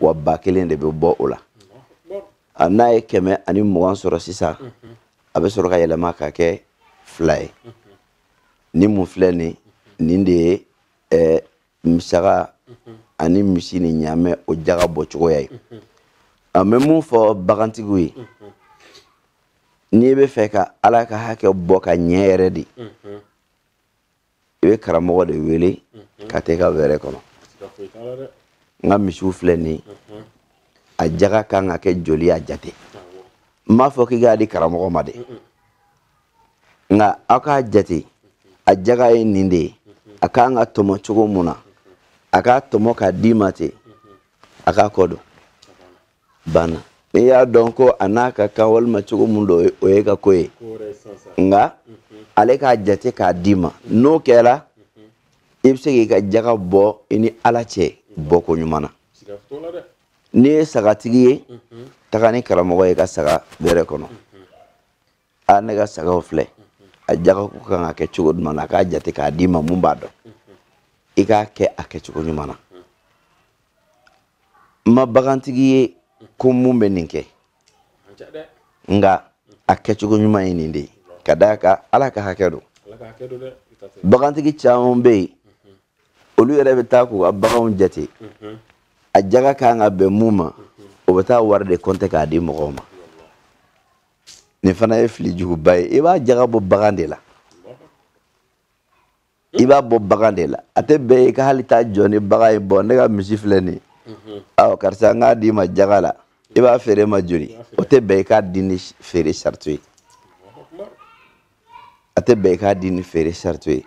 wa ba kelen de bɛ bɔ o la a n'a ye kɛmɛ ani mugan sɔrɔ sisan a bɛ sɔrɔ ka yɛlɛma ka kɛ fila ye ni mun filɛ nin nin de ye ɛɛ mi saga ani misi ni ɲaamɛ o jaga bɔ cogoya ye a bɛ mun fɔ bagantigiw ye n'i bɛ fɛ ka ala ka hakɛ bɔ ka ɲɛ yɛrɛ de i bɛ karamɔgɔ de wele mhm. ka taa i ka wɛrɛ kɔnɔ n ka misiw filɛ nin mhm. a jaga kan ka kɛ joli a jate n m'a fɔ k'i k'a di karamɔgɔ ma dɛ mhm. nka a k'a jate a jaga ye nin de ye a kan ka tɔmɔ cogo mun na a k'a tɔmɔ k'a d'i ma ten a k'a kɔ don banna n'i y'a dɔn ko a n'a ka kan walima cogo mun don o y'i ka ko ye nka ale k'a jate k'a d'i ma n'o kɛra i bɛ se k'i ka jaga bɔ i ni ala cɛ bɔ ko ɲuman na n'i ye sagatigi ye taga ni karamɔgɔ ye i ka saga wɛrɛ kɔnɔ a ne ka sagaw filɛ a jagako kan ka kɛ cogo jumɛn na a k'a jate k'a d'i ma mun b'a to i k'a kɛ a kɛcogo ɲuman na n ma bagantigi ye ko mun bɛ nin kɛ nka a kɛcogo ɲuman ye nin de ye ka d'a kan ala ka hakɛ don bagantigi caman bɛ yen olu yɛrɛ bɛ taa k'u ka baganw jate a jaga kan ka bɛn mun ma o bɛ taa wari de compter k'a di mɔgɔw ma nin fana ye fili juguba ye i b'a jaga bɔ bagan de la i b'a bɔ bagan de la a tɛ bɛn i ka hali taa jɔ ni bagan ye bon ne ka misi filɛ nin mhm. awɔ karisa n k'a d'i ma jaga la i b'a feere n ma joli o tɛ bɛn i k'a di ni feere sarati ye a tɛ bɛn i k'a di ni feere sarati ye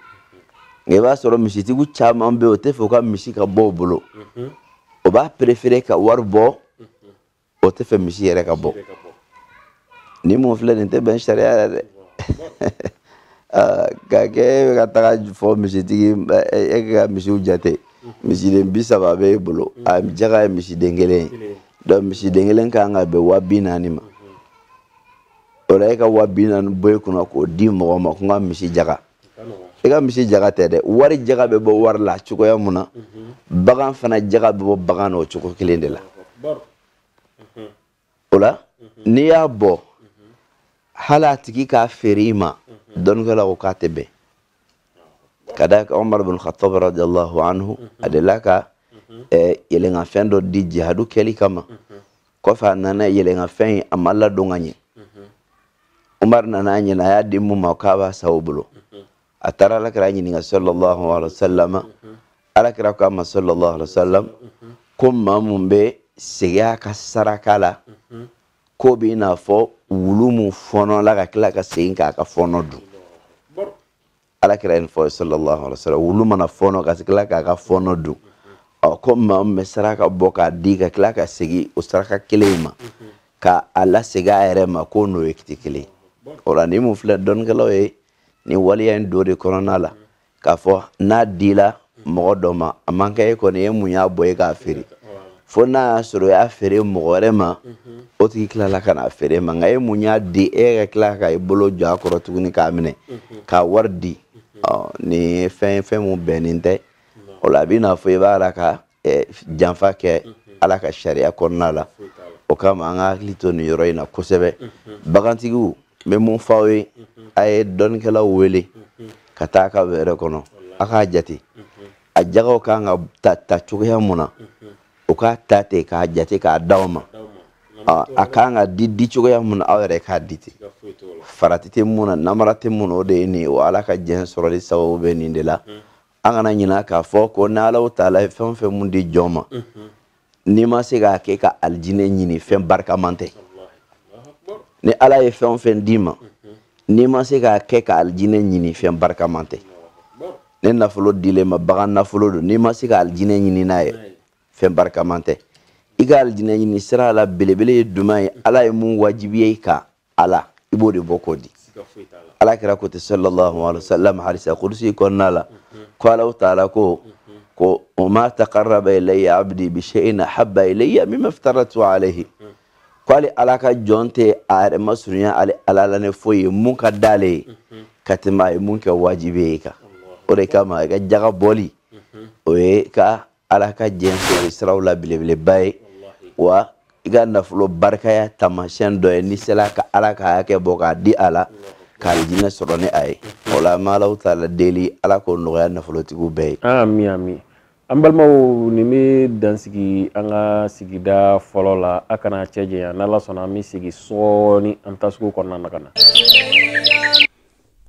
nka i b'a sɔrɔ misitigiw caman bɛ yen o tɛ fɛ u ka misi ka bɔ u bolo mhm. o b'a préférer ka wari bɔ o tɛ fɛ misi yɛrɛ ka bɔ ni mun filɛ nin tɛ bɛn sariya la dɛ ka kɛ e bɛ ka taga fɔ misitigi e ka misiw jate misiden bi saba bɛ e bolo a jaga ye misiden kelen ye donc misiden kelen kan ka bɛn wa bi naani ma o la e ka wa bi naani bɔ e kunna k'o di mɔgɔ ma ko n ka misi jaga i ka misi jaga tɛ dɛ wari jaga bɛ bɔ wari la cogoya mun na bagan fana jaga bɛ bɔ bagan na o cogo kelen de la o la n'i y'a bɔ hali a tigi k'a feere i ma dɔnnikɛlaw ko k'a tɛ bɛn ka d'a kan Umar bin Khattab radiyallahu anhu a delila ka yɛlɛnkanfɛn dɔ di jihadu kɛli kama kɔfɛ a nana yɛlɛnkanfɛn in a ma ladon ka ɲɛ umaru nana a ɲɛna a y'a di mun ma k'a b'a san o bolo a taara alakira ɲininka sallallahu alaihi wasallam alakira ko a ma sallallahu alaihi wasallam ko maa mun bɛ segin a ka saraka la k'o bɛ i n'a fɔ wulu mun fɔɔnɔla ka tila ka segin k'a ka fɔɔnɔ dun alakira ye nin fɔ sallallahu alaihi wa sallam wulu mana fɔɔnɔ ka tila k'a ka fɔɔnɔ dun ɔ ko maa min bɛ saraka bɔ k'a di ka tila ka segin o saraka kelen in ma ka a lasegin a yɛrɛ ma k'o n'o ye kiti kelen o la nin mun filɛ dɔnnikɛlaw ye nin waleya in don o de kɔnɔna la k'a fɔ n'a dila mɔgɔ dɔ ma a man kan e kɔni e mun y'a bɔ e k'a feere fo n'a y'a sɔrɔ o y'a feere mɔgɔ wɛrɛ ma o tigi tilala ka n'a feere ma nka e mun y'a di e ka tila ka i bolo jɔ a kɔrɔ tuguni k'a minɛ k'a wari di nin ye fɛn ye fɛn mun bɛnnen tɛ o la a bɛ n'a fɔ i b'a la ka janfa kɛ ala ka sariya kɔnɔna la o kama an ka hakili to nin yɔrɔ in na kosɛbɛ bagantigiw n bɛ mun fɔ aw ye a ye dɔnnikɛlaw wele ka taa a ka wɛrɛ kɔnɔ a k'a jate a jagaw kan ka ta ta cogoya mun na u k'a ta ten k'a jate k'a d'aw ma a kan ka di di cogoya mun na aw yɛrɛ k'a di ten farati tɛ mun na namara tɛ mun na o de ye nin ye wa ala ka diɲɛ sɔrɔli sababu bɛ nin de la an kana ɲinɛ k'a fɔ ko ni ala taala ye fɛn o fɛn mun di jɔn ma n'i ma se k'a kɛ ka alijinɛ ɲini fɛn barikaman tɛ ni ala ye fɛn o fɛn d'i ma n'i ma se k'a kɛ ka alijinɛ ɲini fɛn barikaman tɛ ni nafolo dil'i ma bagan nafolo don n'i ma se ka alijinɛ ɲini n'a ye fɛn barikaman tɛ i ka alijinɛ ɲini sira la belebele ye duman ye ala ye mun wajibiya i kan a la i b'o de bɔ k'o di ala kira ko ten sallallahu alaihi wa sallam hadisa kudusi kɔnɔna la ko alahu taala ko wa ma taqarraba ilayya abdi bi shay'in ahabba ilayya mimma iftaradtu alayhi ko ale ala ka jɔn tɛ a yɛrɛ masurunya ale ala la ni foyi ye mun ka d'ale ye ka tɛmɛ a ye mun kɛ wajibi ye a kan o de kama a ka jaga bɔli o y'i ka ala ka diɲɛ sɔrɔ siraw la belebeleba ye wa i ka nafolo barikaya taamasiyɛn dɔ ye n'i sera ka ala ka hakɛ bɔ k'a di a la ka alijinɛ sɔrɔ ni a ye o la an bɛ ala taala deli ala k'o nɔgɔya nafolotigiw bɛɛ ye ami ami an balimaw nin bɛ dan sigi an ka sigida fɔlɔ la a kana cɛ janya n'ala sɔnna an bɛ sigi sɔɔni an bɛ taa sugu kɔnɔna na ka na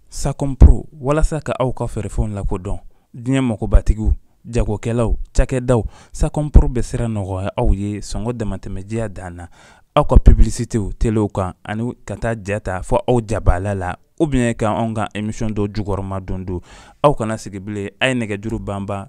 Sacom Pro walasa ka aw ka feerefɛnw lakodɔn diɲɛ makobatigiw jagokɛlaw cakɛdaw Sacom Pro bɛ sira nɔgɔya aw ye sɔngɔ damatɛmɛ diya dan na aw ka publicitéw telew kan ani ka taa ja ta fo aw jabala la ou bien ka anw ka émission dɔ jukɔrɔmadondon aw kana sigi bilen a ye nɛgɛjuru banban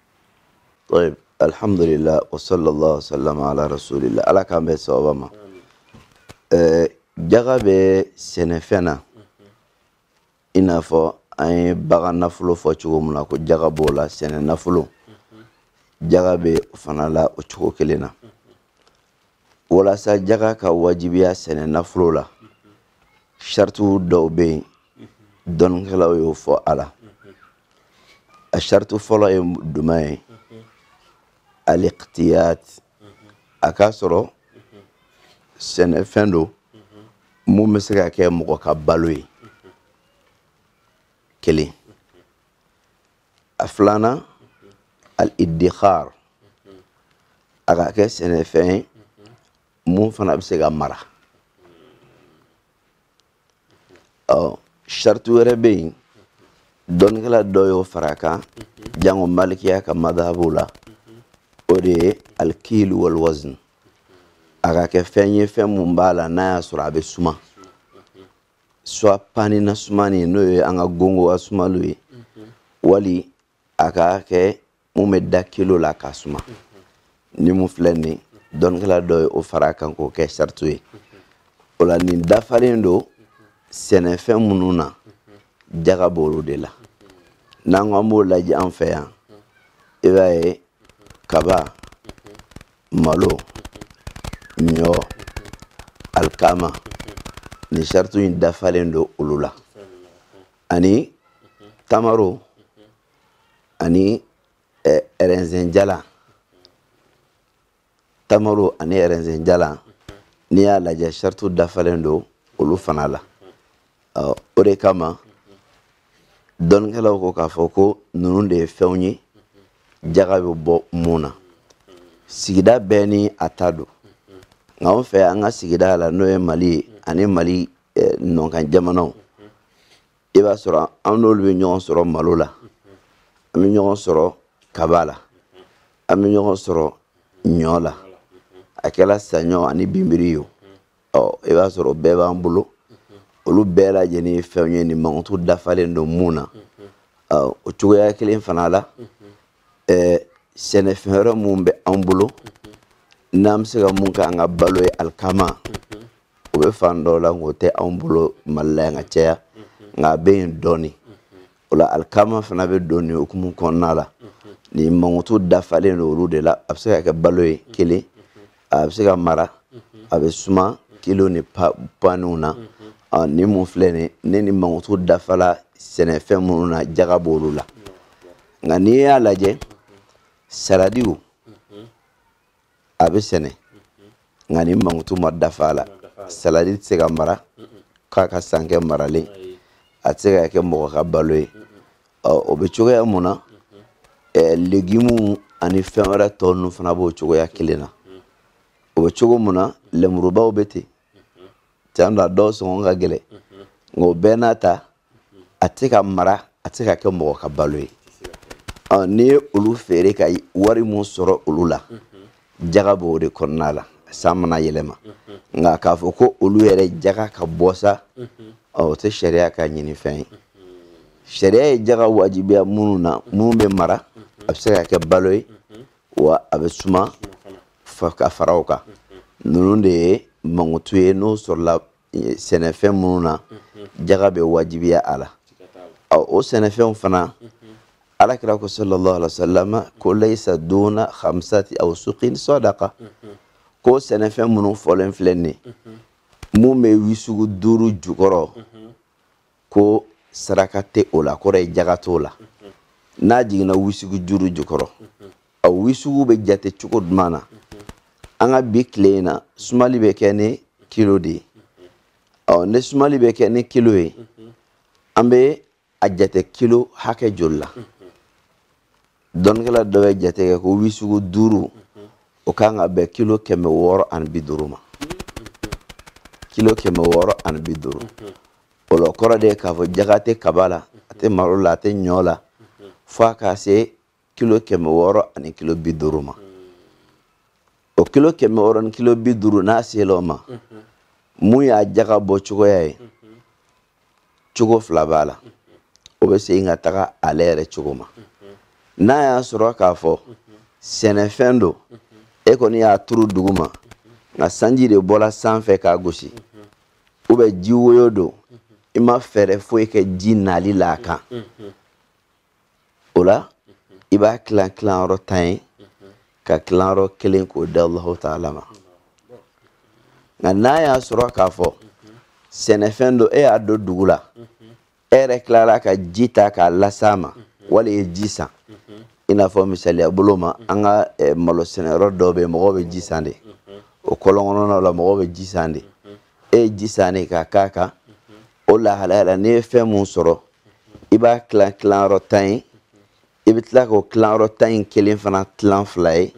tayib alhamdulilah wasala allah wasalam ala rasuulillah ala k'an bɛn sawaba ma eh, jaga bɛ sɛnɛfɛn na i n'a fɔ an ye bagan nafolo fɔ cogo min na ko jaga b'o la sɛnɛ nafolo jaga bɛ o fana la o cogo kelen na walasa jaga ka wajibiya sɛnɛ nafolo la saritiw dɔw bɛ yen dɔnnikɛlaw y'o fɔ a la a sariti fɔlɔ ye jumɛn ye alikitiyat a k'a sɔrɔ sɛnɛfɛn don mun bɛ se ka kɛ mɔgɔ ka balo ye kelen a filanan al-idikhar a ka kɛ sɛnɛfɛn ye mun fana bɛ se ka mara ɔ sariti wɛrɛ bɛ yen dɔnnikɛla dɔ y'o fara a kan jango malikiya ka madabu la o de ye alikilu waliwazin a ka kɛ fɛn ye fɛn mun b'a la n'a y'a sɔrɔ a bɛ suma soit pani na sumani ye n'o ye an ka gongo ka sumali ye mhm. wali a ka kɛ mun bɛ da kilo la k'a suma mhm. ni mun filɛ nin dɔnnikɛla dɔ ye o fara kan k'o kɛ saritu ye mhm. o la nin dafalen don sɛnɛfɛn minnu na jaga b'olu de la n'an ko an b'o lajɛ an fɛ yan i b'a ye kaba malo ɲɔ alikama nin saritu in dafalen don olu la ani tamaro ani eh, ɛrɛzɛn jalan tamaro ani ɛrɛzɛn jalan n'i y'a lajɛ saritu dafalen don olu fana la o de kama dɔnnikɛlaw ko k'a fɔ ko ninnu de ye fɛnw ye jaga bɛ bɔ mun na sigida bɛɛ ni a ta don nka anw fɛ an ka sigida la n'o ye mali ye ani mali eh, nɔnkan jamanaw i b'a sɔrɔ an n'olu bɛ ɲɔgɔn sɔrɔ malo la an bɛ ɲɔgɔn sɔrɔ kaba la an bɛ ɲɔgɔn sɔrɔ ɲɔ la a kɛra saɲɔ ani binbiri ye o ɔ i b'a sɔrɔ bɛɛ b'an bolo olu bɛɛ lajɛlen ye fɛnw ye nin mankutu dafalen don mun na ɔ o cogoya kelen fana la ɛɛ sɛnɛfɛn wɛrɛ mun bɛ an bolo n'an bɛ se ka mun k'an ka balo ye alikama o bɛ fan dɔw la nk'o tɛ anw bolo mali la yan ka caya nka a bɛ yen dɔɔnin o la alikama fana bɛ don nin hukumu kɔnɔna la nin mankutu dafalen don olu de la a bɛ se ka kɛ balo ye kelen a bɛ se ka mara a bɛ suma kilo ni paniw na ni mun filɛ nin ne ni mankutu dafala sɛnɛfɛn minnu na jaga b'olu la nka n'i y'a lajɛ saladiw a bɛ sɛnɛ nka ni mankutu ma dafa a la saladi tɛ se ka mara k'a ka san kɛ maralen a tɛ se ka kɛ mɔgɔ ka balo ye o bɛ cogoya mun na legimu ani fɛn wɛrɛ tɔ ninnu fana b'o cogoya kelen na o bɛ cogo mun na lemurubaw bɛ ten can don a dɔw sɔngɔ ka gɛlɛn nka o bɛɛ n'a ta a tɛ se ka mara a tɛ se ka kɛ mɔgɔ ka balo ye n'i ye olu feere ka wari mun sɔrɔ olu la jaga b'o de kɔnɔna la san mana yɛlɛma nka k'a fɔ ko olu yɛrɛ jaga ka bɔ sa o tɛ sariya ka ɲini fɛn ye sariya ye jaga wajibiya minnu na minnu bɛ mara a bɛ se ka kɛ balo ye wa a bɛ suma ka fara o kan ninnu de ye mankutu ye n'o sɔrɔla sɛnɛfɛn minnu na jaga bɛ wajibiya a la o sɛnɛfɛnw fana ala kira ko sallallahu alaihi wasallam ko laysa duna khamsati awsuqin sadaqa ko sɛnɛfɛn minnu fɔlen filɛ nin mun bɛ wisugu duuru jukɔrɔ ko saraka tɛ o la kɔrɔ ye jaga t'o la n'a jiginna wisugu duuru jukɔrɔ a wisugu bɛ jate cogo jumɛn na an ka bi tile in na sumali bɛ kɛ ni kilo de ye ɔ ni sumali bɛ kɛ ni kilo ye an bɛ a jate kilo hakɛ joli la dɔnnikɛla dɔ bɛ jate kɛ ko wisugu duuru o kan ka bɛn kilo kɛmɛ wɔɔrɔ ani bi duuru ma kilo kɛmɛ wɔɔrɔ ani bi duuru o la kɔrɔ de ye k'a fɔ jaga tɛ kaba la a tɛ malo la a tɛ ɲɔ la fo a ka se kilo kɛmɛ wɔɔrɔ ani kilo bi duuru ma o kilo kɛmɛ wɔɔrɔ ni kilo bi duuru n'a sela o ma mun y'a jaga bɔ cogoya ye cogo fila b'a la o bɛ segin ka taga ale yɛrɛ cogo ma n'a y'a sɔrɔ k'a fɔ sɛnɛfɛn don e kɔni y'a turu dugu ma nka sanji de bɔra sanfɛ k'a gosi ou bien ji woyo don i ma fɛɛrɛ foyi kɛ ji nali la a kan o la i b'a tilan tilanyɔrɔ tan ye ka tilanyɔrɔ kelen k'o di Allahu taala ma nka n'a y'a sɔrɔ k'a fɔ sɛnɛfɛn don e y'a don dugu la e yɛrɛ tilara ka ji ta k'a las'a ma wali i ye ji san i n'a fɔ misaliya bolo ma an ka eh, malo sɛnɛyɔrɔ dɔw bɛ yen mɔgɔw bɛ ji san de o kɔlɔn kɔnɔnaw la mɔgɔw bɛ ji san de e ye ji san de k'a k'a kan o lahalaya la n'i ye fɛn mun sɔrɔ i b'a tilan tilanyɔrɔ tan ye i bɛ tila k'o tilanyɔrɔ tan in kelen fana tilan fila ye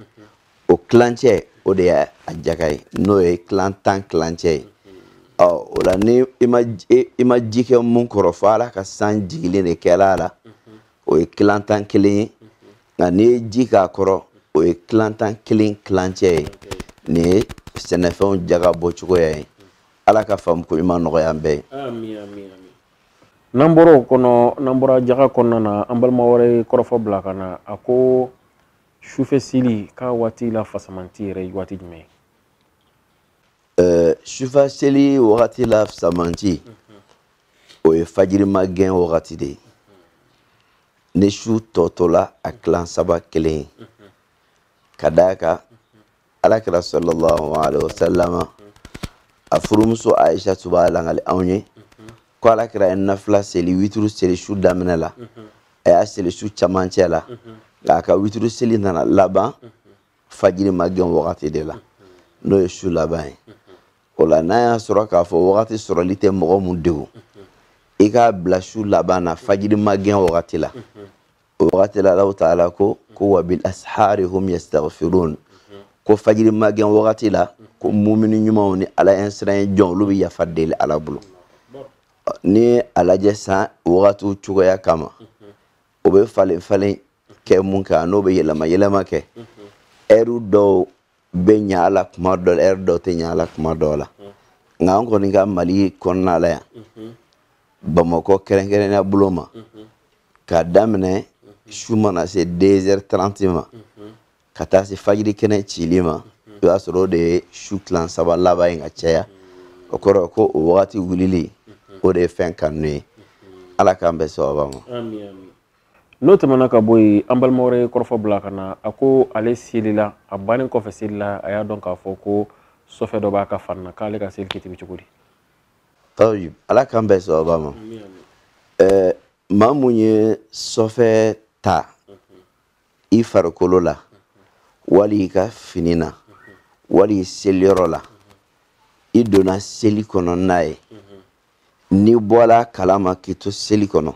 o tilancɛ o de y'a jaga ye n'o ye tilan tan tilancɛ ye ɔ o la ni i ma i ma ji kɛ mun kɔrɔ fo ala ka san jigilen de kɛla a la o ye tilan tan kelen ye nka n'i ye ji k'a kɔrɔ o ye tilan tan kelen tilancɛ ye nin ye sɛnɛfɛnw jaga bɔcogoya ye ala ka faamuko ɲuman nɔgɔya an bɛɛ ye n'an bɔra o kɔnɔ n'an bɔra jaga kɔnɔna na an balima wɛrɛ ye kɔrɔfɔ bila ka na a ko sufɛ seli k'a waati la fasamanti yɛrɛ ye waati jumɛn ye sufɛ seli wagati la fasamanti o ye fajiri magɛn wagati de ye ni su tɔ tola a tilan saba kelen ye ka d'a kan alakira sallallahu alaihi wasallama a furumuso aisha tun b'a langali anw ye ko alakira ye nafila seli wituru seli su daminɛ la a y'a seli su camancɛ la nka a ka wituru seli nana laban fajiri magɛn wagati de la n'o ye su laban ye o la n'a y'a sɔrɔ k'a fɔ wagati sɔrɔli tɛ mɔgɔ mun degun i k'a bila su laban na fajiri magɛn wagati la o wagati la allahu taala ko ko wa bil ashari hum yastaghfirun ko fajiri magɛn wagati la ko mumini ɲumanw ni ala ɲɛsiran jɔn olu bɛ yafa deli ala bolo ni a lajɛ san wagatiw cogoya kama o bɛ falen falen kɛ mun kɛ ani o bɛ yɛlɛma yɛlɛma kɛ ɛriw dɔw bɛ ɲa a la kuma dɔ la ɛri dɔ tɛ ɲa a la kuma dɔw la nka an kɔni ka mali kɔnɔna la yan bamakɔ kɛrɛnkɛrɛnnenya bolo ma k'a daminɛ su mana se deux heures trente ma ka taa se fajiri kɛnɛ cili ma i b'a sɔrɔ o de ye su tilan saba laban ye ka caya o kɔrɔ ko o wagati wulili o de ye fɛn kanu ye ala k'an bɛn sawaba ma n'o tɛmɛna ka bɔ yen an balima wɛrɛ ye kɔrɔfɔ bila ka na a ko ale selila a bannen kɔfɛ seli la a y'a dɔn k'a fɔ ko sɔfɛ dɔ b'a ka fari na k'ale ka seli kiiti bɛ cogo di tayib ala k'an bɛn sawaba ma maa mun ye sɔfɛ ta i farikolo la wali i ka fini na wali i seliyɔrɔ la i donna seli kɔnɔ n'a ye n'i bɔla a kalama k'i to seli kɔnɔ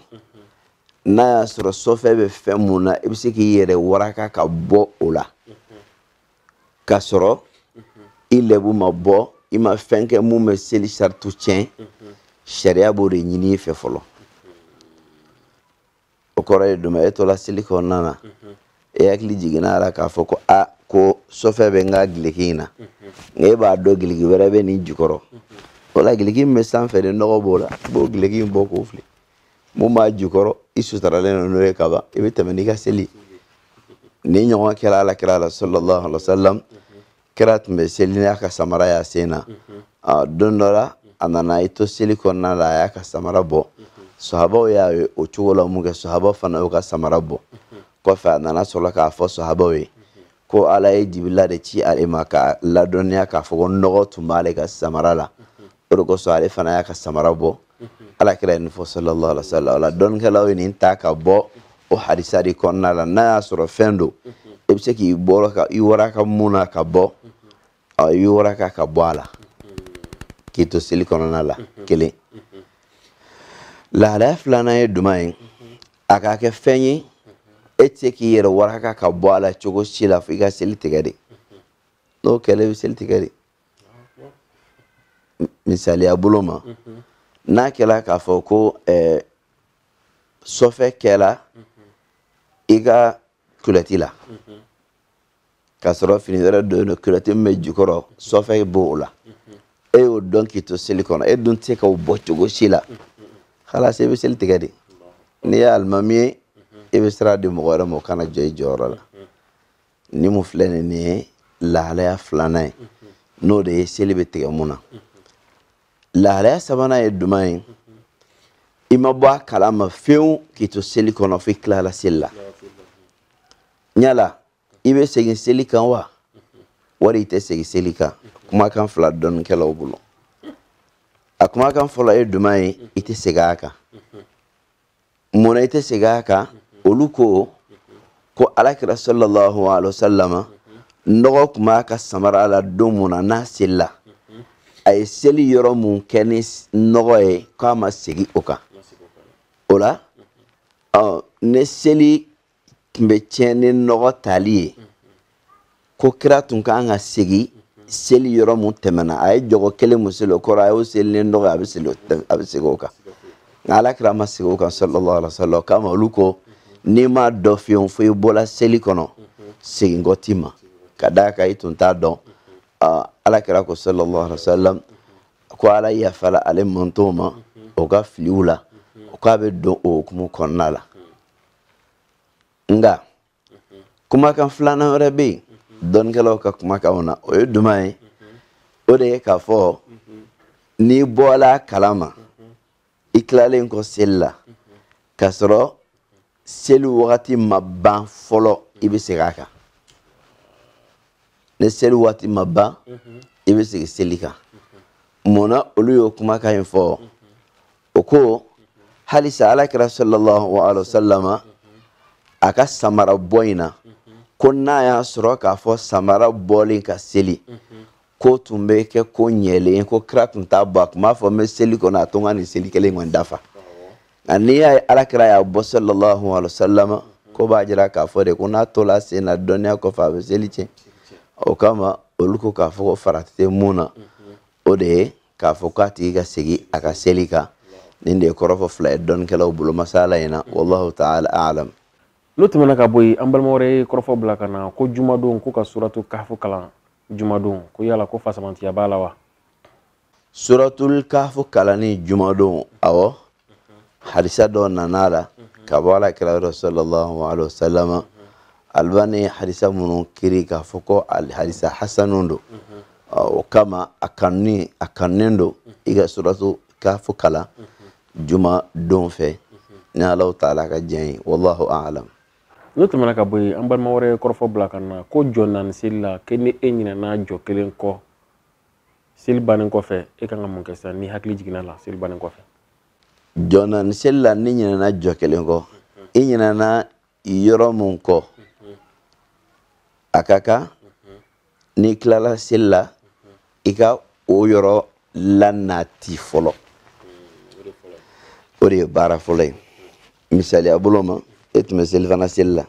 n'a y'a sɔrɔ sɔfɛ bɛ fɛn mun na i bɛ se k'i yɛrɛ waraka ka bɔ o la k'a sɔrɔ i lɛbu ma bɔ i ma fɛn kɛ mun bɛ seli saritiw tiɲɛ sariya b'o de ɲini i fɛ fɔlɔ o kɔrɔ ye jumɛn e tola seli kɔnɔna na e hakili jiginna a la k'a fɔ ko a ko sɔfɛ bɛ n ka gileki in na nka e b'a dɔn gileki wɛrɛ bɛ nin jukɔrɔ o la gileki min bɛ sanfɛ de nɔgɔ b'o la i b'o gileki in bɔ k'o fili mun b'a jukɔrɔ i sutaralen don n'o ye ka ban i bɛ tɛmɛ n'i ka seli nin ɲɔgɔn kɛra ala kira la sallallahu alaihi wa sallam kira tun bɛ seli n'a ka samara y'a sen na don dɔ la a nana i to seli kɔnɔna la a y'a ka samara bɔ sahabaw y'a ye o cogo la mun kɛ sahabaw fana y'u ka samara bɔ kɔfɛ a nana sɔrɔ k'a fɔ sahabaw ye ko ala ye jibila de ci ale ma k'a ladɔnniya k'a fɔ ko nɔgɔ tun b'ale ka samara la o de kosɔn ale fana y'a ka samara bɔ ala kira ye nin fɔ sallallahu alaihi wasallam o la dɔnnikɛlaw ye nin ta ka bɔ o hadisa de kɔnɔna la n'a y'a sɔrɔ fɛn don i bɛ se k'i bɔra ka i waraka mun na ka bɔ i b'i waraka ka bɔ a la k'i to seli kɔnɔna la kelen lahalaya filanan ye jumɛn ye a ka kɛ fɛn ye e tɛ se k'i yɛrɛ waraka ka bɔ a la cogo si la fo i ka seli tigɛ de n'o kɛla i bɛ seli tigɛ de misaliya bolo ma n'a kɛla k'a fɔ ko eh, sɔfɛ kɛla i ka kulɛti la k'a sɔrɔ fini wɛrɛ don don kulɛti min bɛ jukɔrɔ sɔfɛ b'o la e y'o dɔn k'i to seli kɔnɔ e dun tɛ se k'o bɔ cogo si la halasi i bɛ seli tigɛ de n'i ye alimami ye i bɛ sira di mɔgɔ wɛrɛ ma o ka na jɔ i jɔyɔrɔ la ni mun filɛ nin nin ye lahalaya filanan ye n'o de ye seli bɛ tigɛ mun na lahalaya sabanan ye jumɛn ye i ma bɔ a kalama fewu k'i to seli kɔnɔ fo i tilala seli la yala i bɛ segin seli kan wa wali i tɛ segin seli kan kumakan fila dɔnnikɛlaw bolo a kumakan fɔlɔ ye jumɛn ye i tɛ segin a kan munna i tɛ segin a kan olu ko ko alakira sallallahu alaihi wasallam nɔgɔ tun b'a ka samara la don mun na n'a selila a ye seli yɔrɔ mun kɛ ni nɔgɔ ye k'a ma segin o kan o la ni seli tun bɛ tiɲɛ ni nɔgɔ tali ye ko kira tun ka kan ka segin seli yɔrɔ mun tɛmɛna a ye jɔkɔ kelen mun seli o kɔrɔ a y'o seli ni nɔgɔ a bɛ seli a bɛ segin o kan nka ala kira ma segin o kan sallallahu alaihi wa sallam o kama olu ko n'i m'a dɔn fiyewu fo i bɔla seli kɔnɔ segin kɔ t'i ma ka d'a kan i tun t'a dɔn ala kira ko sallallahu alaihi wa sallam ko ala yafala ale mantow ma o ka filiw la k'a bɛ don o hukumu kɔnɔna la. nka kumakan filanan wɛrɛ bɛ yen dɔnnikɛlaw ka kumakanw na o ye jumɛn ye o de ye k'a fɔ n'i bɔla a kalama i tilalen kɔ seli la k'a sɔrɔ seli wagati ma ban fɔlɔ i bɛ segin a kan ni seli wagati ma ban i bɛ segin seli kan mun na olu y'o kumakan in fɔ. o ko halisa alakira sallallahu alaihi wasallama a ka samara bɔ in na ko n'a y'a sɔrɔ k'a fɔ samara bɔlen ka seli k'o tun bɛ kɛ ko ɲɛlen ko kira tun t'a bɔ a tun b'a fɔ n bɛ seli kɔnɔ a to n ka nin seli kelen kɔni dafa nka n'i y'a ye alakira y'a bɔ sallallahu alaihi wasallama k'o b'a jira k'a fɔ de ko n'a tola a sen na dɔnniya kɔfɛ a bɛ seli tiɲɛ o kama olu ko k'a fɔ ko farati tɛ mun na o de ye k'a fɔ k'a tigi ka segin a ka seli kan nin de ye kɔrɔfɔ fila ye dɔnnikɛlaw bolo masala in na wallahu taala alam n'o tɛmɛna ka bɔ yen an balima wɛrɛ ye kɔrɔfɔ bila ka na ko jumadon ko ka suratu kafu kalan jumadon ko yala ko fasamantiya b'a la wa suratul kafu kalanni jumadon awɔ hadisa dɔ nana a la ka bɔ alakira yɔrɔ sallallahu alaihi wasallam albani hadisa minnu kiri k'a fɔ ko hadisa hasanu don o kama a kanunen don i ka suratu kafu kalan jumadon fɛ ni allahu taala ka diɲɛ ye wallahu a'lam n'o tɛmɛna ka bɔ yen an balima wɛrɛ ye kɔrɔfɔ bila ka na ko jɔ naani seli la ko ni e ɲinɛna jɔ kelen kɔ seli bannen kɔfɛ e kan ka mun kɛ sisan n'i hakili jiginna a la seli bannen kɔfɛ jɔ naani seli la n'i ɲinɛna jɔ kelen kɔ i ɲinɛna yɔrɔ mun kɔ a ka kan n'i tilala seli la i ka o yɔrɔ lanati fɔlɔ o de ye baara fɔlɔ ye misaliya bolo ma e tun bɛ selifana seli la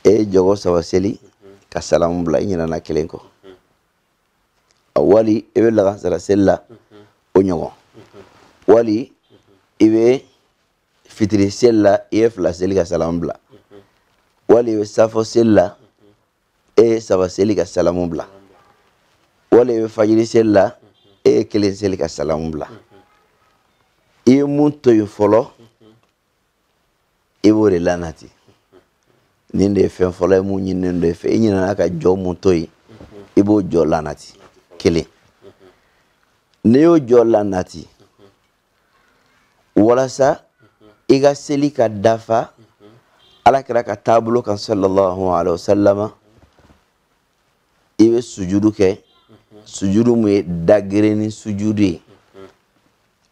e ye jɔgɔ saba seli ka salamu bila i ɲinɛna kelen kɔ wali i bɛ lagansara seli la o ɲɔgɔn wali i bɛ fitiri seli la i ye fila seli ka salamu bila wali i bɛ safo seli la e ye saba seli ka salamu bila wali i bɛ fajiri seli la e ye kelen seli ka salamu bila i ye mun to yen fɔlɔ i b'o de lanati nin de ye fɛn fɔlɔ ye mun ɲininen don i fɛ i ɲinana ka jɔ mun to yen i b'o jɔ lanati kelen n'i y'o jɔ lanati walasa i ka seli ka dafa alakira ka taabolo kan sallallahu alaihi wa sallama i bɛ sujudu kɛ sujudu mun ye dagereni sujudu ye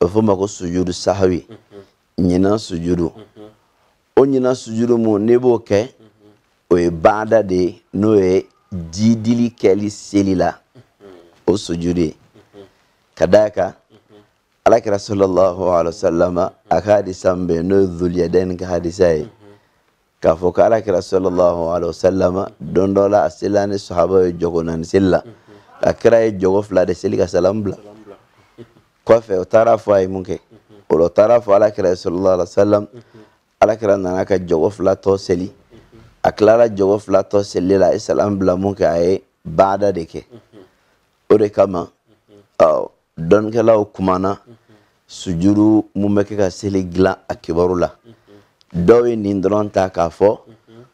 o bɛ fɔ ma ko sujudu sahawi ɲinan sujudu o ɲinan sujudu mun n'i b'o kɛ o ye baada de ye n'o ye jidili kɛli seli la o sujudu ye ka d'a kan alakira sallallahu alaihi wa sallam a ka hadisa min bɛ yen n'o ye zuliyadɛni ka hadisa ye. k'a fɔ ko ala kira sallallahu alaihi wasallam don dɔ la a selila ni sahaba ye jɔko naani seli la a kira ye jɔko fila de seli ka salamu bila kɔfɛ o taara fɔ a ye mun kɛ o la o taara fɔ ala kira sallallahu alaihi wasallam ala kira nana ka jɔko fila tɔ seli a tilala jɔko fila tɔ seli la a ye salamu bila mun kɛ a ye baada de kɛ o de kama dɔnnikɛlaw kumana sujudu mun bɛ kɛ ka seli dilan a kibaru la dɔw ye nin dɔrɔn ta k'a fɔ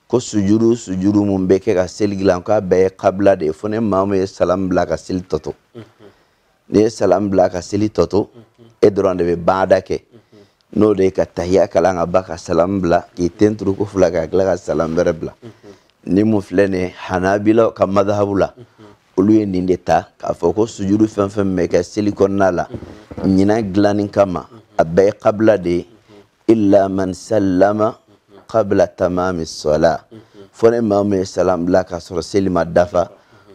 ko sujudu sujudu mun bɛ kɛ ka seli dilan k'a bɛɛ ye kabila de ye fo ni maa min ye salam bila ka seli tɔ to n'i ye salam bila ka seli tɔ to e dɔrɔn de bɛ baada kɛ n'o de ye ka tahiya kalan ka ban ka salam bila k'i ten turu ko fila ka tila ka salam wɛrɛ bila nin mun filɛ nin ye hanabilaw ka madahabu la olu ye nin de ta k'a fɔ ko sujudu fɛn fɛn bɛ kɛ seli kɔnɔna la ɲinan dilanni kama a bɛɛ ye kabila de ye illa man sallama kabila tamami sɔla fo ni maa min ye salam bila k'a sɔrɔ seli ma dafa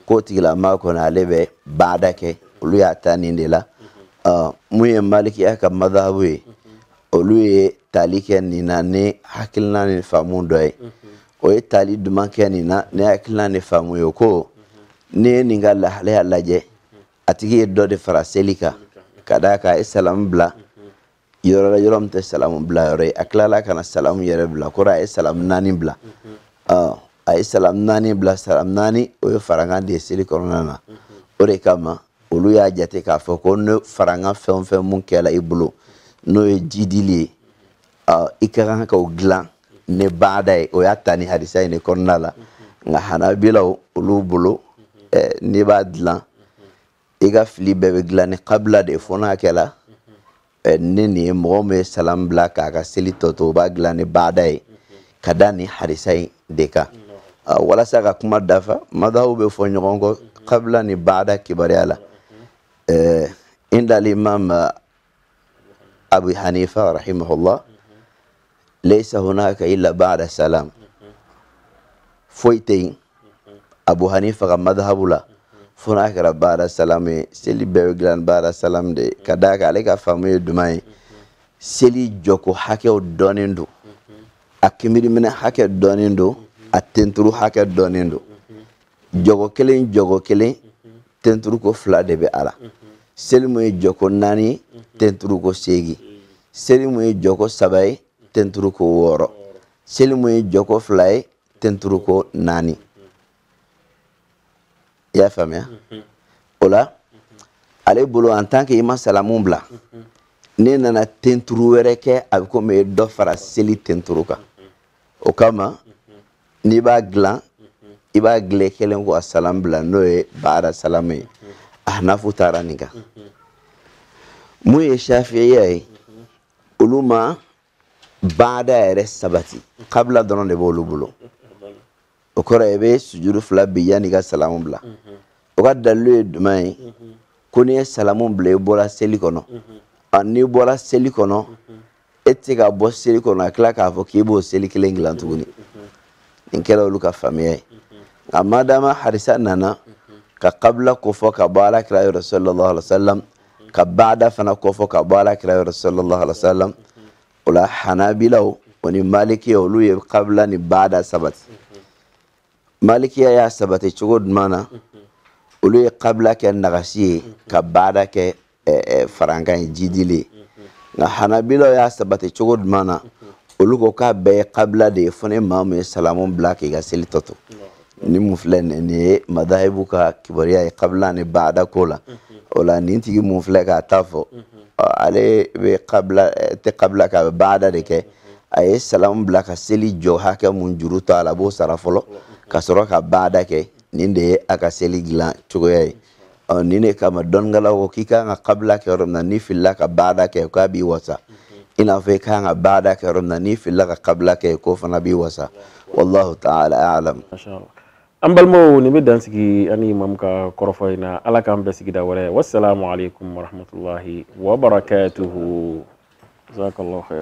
k'o tigilamaa kɔni ale bɛ baada kɛ olu y'a ta nin de la mun ye malikiya ka madhabu ye olu ye tali kɛ nin na ni hakilina ni faamu dɔ ye o ye tali duman kɛ nin na ni hakilina ni faamu ye ko n'i ye nin ka lahalaya lajɛ a tigi ye dɔ de fara seli kan ka d'a kan a ye salamu bila yɔrɔ la yɔrɔ min tɛ salamu bila yɔrɔ ye a tilala ka na salamu yɛrɛ bila kɔrɔ a ye salamu naani bila a ye salamu naani bila salamu naani o ye farankan de ye seli kɔnɔna na o de kama olu y'a jate k'a fɔ ko ni farankan fɛn o fɛn mun kɛla i bolo n'o ye jidili ye i ka kan ka o dilan ni baada ye o y'a ta nin hadisa in kɔnɔna la nka hanabilaw olu bolo n'i b'a dilan i ka fili bɛɛ bɛ dilan ni kabila de ye fo n'a kɛla ni nin ye mɔgɔ min ye salam bila k'a ka seli tɔ to o b'a dilan ni baada ye ka da nin hadisa in de kan walasa an ka kuma dafa madahabu bɛ fɔ ɲɔgɔn kɔ kabila ni baada kibaruya la indal imam abu hanifa rahimahullah laysa hunaka illa ba'da salam foyi tɛ yen abu hanifa ka madhabu la fo n'a kɛra ba'da salam ye seli bɛɛ bɛ dilan ba'da salam de ye ka d'a kan ale ka faamu ye duman ye seli jɔko hakɛw dɔnnen don a kinbiriminɛ hakɛ dɔnnen don a tenturu hakɛ dɔnnen don jɔko kelen jɔko kelen tenturuko fila de bɛ a la seli mun ye jɔko naani ye tenturuko seegin seli mun ye jɔko saba ye tenturuko wɔɔrɔ seli mun ye jɔko fila ye tenturuko naani i y'a faamuya o la ale bolo en tant que i ma salamu bila n'e nana tenturu wɛrɛ kɛ a bɛ komi i ye dɔ fara seli tenturu kan o kama n'i b'a dilan i b'a dilan kelen ko a salamu bila n'o ye baada salamu ye ahanafu taara nin kan mun ye shafiya ye olu ma baada yɛrɛ sabati kabila dɔrɔn de b'olu bolo o kɔrɔ i bɛ sujudu fila bin yanni i ka salamu bila o ka dalilu ye jumɛn ye ko n'i ye salamu bila i bɔra seli kɔnɔ n'i bɔra seli kɔnɔ e tɛ se ka bɔ seli kɔnɔ ka tila k'a fɔ k'i b'o seli kelen dilan tuguni nin kɛra olu ka faamuya ye nka madama hadisa nana ka kabila kofɔ ka bɔ ala kira yɔrɔ sallallahu alaihi wa sallam ka baada fana kofɔ ka bɔ ala kira yɔrɔ sallallahu alaihi wa sallam o la hanabilaw o ni malikiya olu ye kabila ni baada sabati malikiya y'a sabati cogo jumɛn na olu ye kabila kɛ nagasi ye ka baada kɛ farankan ye jiidili ye nka hanabilaw y'a sabati cogo jumɛn na olu ko k'a bɛɛ ye kabila de ye fo ni maa min ye salamu bila k'i ka seli tɔ to nin mun filɛ nin ye madahibu ka kibaruya ye kabila ni baada ko la o la nin tigi mun filɛ k'a ta fɔ ale bɛ kabila tɛ kabila kɛ a bɛ baada de kɛ a ye salamu bila ka seli jɔ hakɛ mun juru to a la a b'o sara fɔlɔ ka sɔrɔ ka baada kɛ nin de ye a ka seli dilan cogoya ye ɔ nin de kama dɔnnikɛlaw ko k'i kan ka kabila kɛ yɔrɔ min na n'i filila ka baada kɛ k'a b'i wasa i n'a fɔ i kan ka baada kɛ yɔrɔ min na n'i filila ka kabila kɛ k'o fana b'i wasa wallahu taala alam an balimaw nin bɛ dan sigi an ni imamu ka kɔrɔfɔ in na ala k'an bɛn sigida wɛrɛ wasalamu alaikum warahmatullahi wabarakatuhu jazakallahu khair